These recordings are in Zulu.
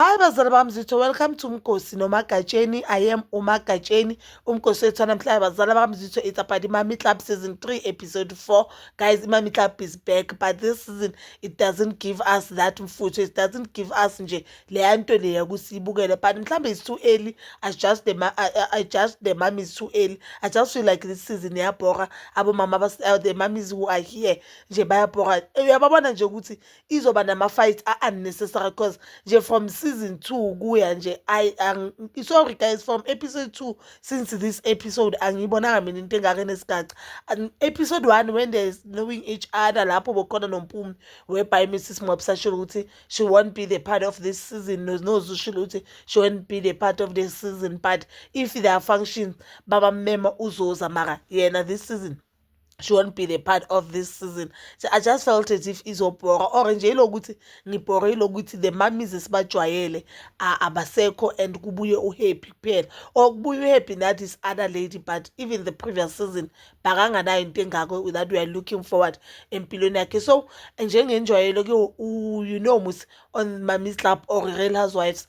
Hayi bazali bami zitho welcome to Mkosi noMagatsheni I am uMagatsheni uMkosi wethu namhlanje bazali bami zitho it's about Imami Club season 3 episode 4 guys Imami Club is back but this season it doesn't give us that mfutho it doesn't give us nje leya nto leya kusibukele but mhlambe it's too early I just the I, I just the mom is too early I just feel like this season yabhora abomama uh, the mommies who are here nje bayabhora uyababona nje ukuthi izoba nama-fight a-unnecessary cause nje from season two kuya nje ayi sorry guys from episode two since this episode angiyibonanga mina into engaka enesigaca episode one when there is knowing each other lapho bokhona nompumi whereby mrs mwabisa shilo ukuthi she won't be the part of this season nozu shilo ukuthi she won't be the part of this season but if there are functions babamema uzoza mara yena this season she won't be the part of this season so i just felt as if izobhora or nje ilokuthi ngibhore ilokuthi the mummies esibajwayele abasekho and kubuye uhappy kuphela or kubuye uhappy that is other lady but even the previous season bakanganayo into engako that we are looking forward empilweni yakhe so njengenjwayelo ke you know mus on mummies club or real housewives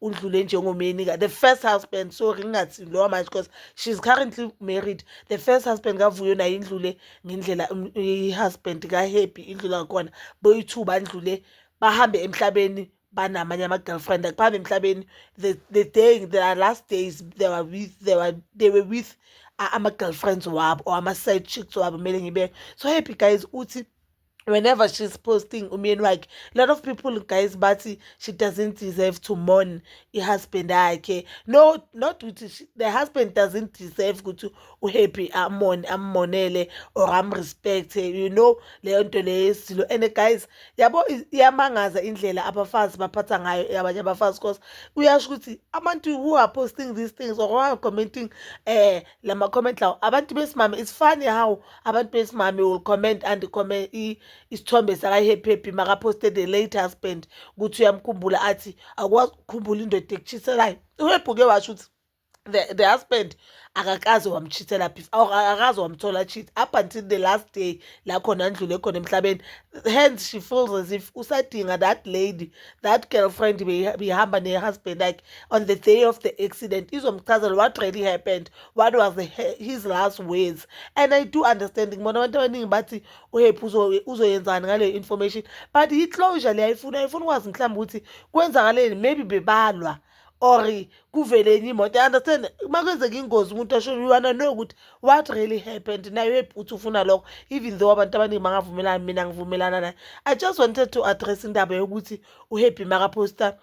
udlule njengomyeni ka the first husband sorry ngingathi lowa manje because she's currently married the first husband kavuyo naye indlule ngendlela um, i-husband ka-happy indlula ngakhona boyi-two bandlule bahambe emhlabeni banamanye ama-girlfriend akuhambe emhlabeni the, the day the last days they were with, they were, they were with uh, ama-girlfriends wabo or ama-side chicks wabo kumele ngibe so happy guys uthi whenever she's posting umyeni wakhe a lot of people guys bathi she doesn't deserve to mourn i-husband yakhe no not ukuthi the husband doesn't deserve ukuthi uhappy amone ammonele or amrespect you know leyo nto leyo yesizilo and guys yabo iyamangaza indlela abafazi baphatha ngayo abanye abafazi cause uyasho ukuthi abantu who are posting these things or who are commenting um la ma-comment lawo abantu besimame it's funny how abantu besimame will comment and comment isithombe sakahephephi makaphoste the late husband ukuthi uyamkhumbula athi akwazi ukukhumbula indoda ekushiselayo uhebhuke washo ukuthi the, the husband akakaze wamchithela phi akakaze wamthola cheat up until the last day la khona ndlule khona emhlabeni hence she feels as if usadinga that lady that girlfriend beyihamba ne-husband like on the day of the accident izomchazela what really happened what was his last words and i do understand ngibona abantu abaningi bathi uhephi uzoyenzani ngaleyo information but i-closure le ayifuna ayifuna ukwazi mhlawumbe ukuthi kwenzakaleni maybe bebalwa or kuvele enye imoto i understand uma kwenzeka ingozi umuntu asho you wanna know ukuthi what really happened nayo ebhuthi ufuna lokho even though abantu abaningi bangavumelani mina ngivumelana naye i just wanted to address indaba yokuthi uhappy makaposta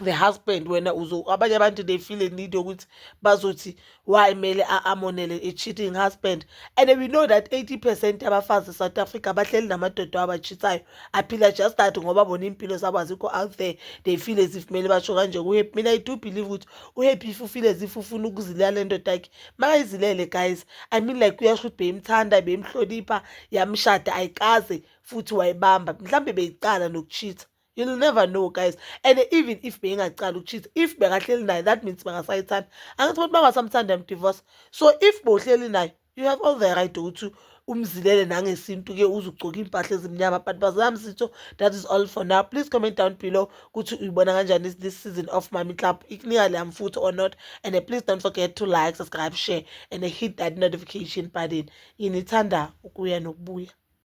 the husband wena uzo abanye abantu they feel a need yokuthi bazothi why mele amonele a cheating husband and we know that 80 percent abafazi south africa bahleli namadoda abachithayo aphila just that ngoba bona impilo zabo azikho out there they feel as if mele basho kanje kuhappy mina i do believe ukuthi uhappy if ufile as if ufuna ukuzilala le ndoda yakhe makayizilele guys i mean like uyasho ukuthi beyimthanda beyimhlonipha yamshada ayikaze futhi wayibamba mhlawumbe beyiqala nokuchitha you'll never know guys and even if beyingacala ukucheat if bekahleli naye that means bangasayithanda angithi abantu bangasamthanda yamdivorce so if bohleli naye you have all the right ukuthi umzilele nangesintu-ke uze ugcoke iy'mpahla ezimnyama but bazami sitho that is all for now please comment down below ukuthi uyibona kanjani this season of mami club ikunika le mfutho or not and uh, please don't forget to like subscribe share and uh, hit that notification button yinithanda ukuya nokubuya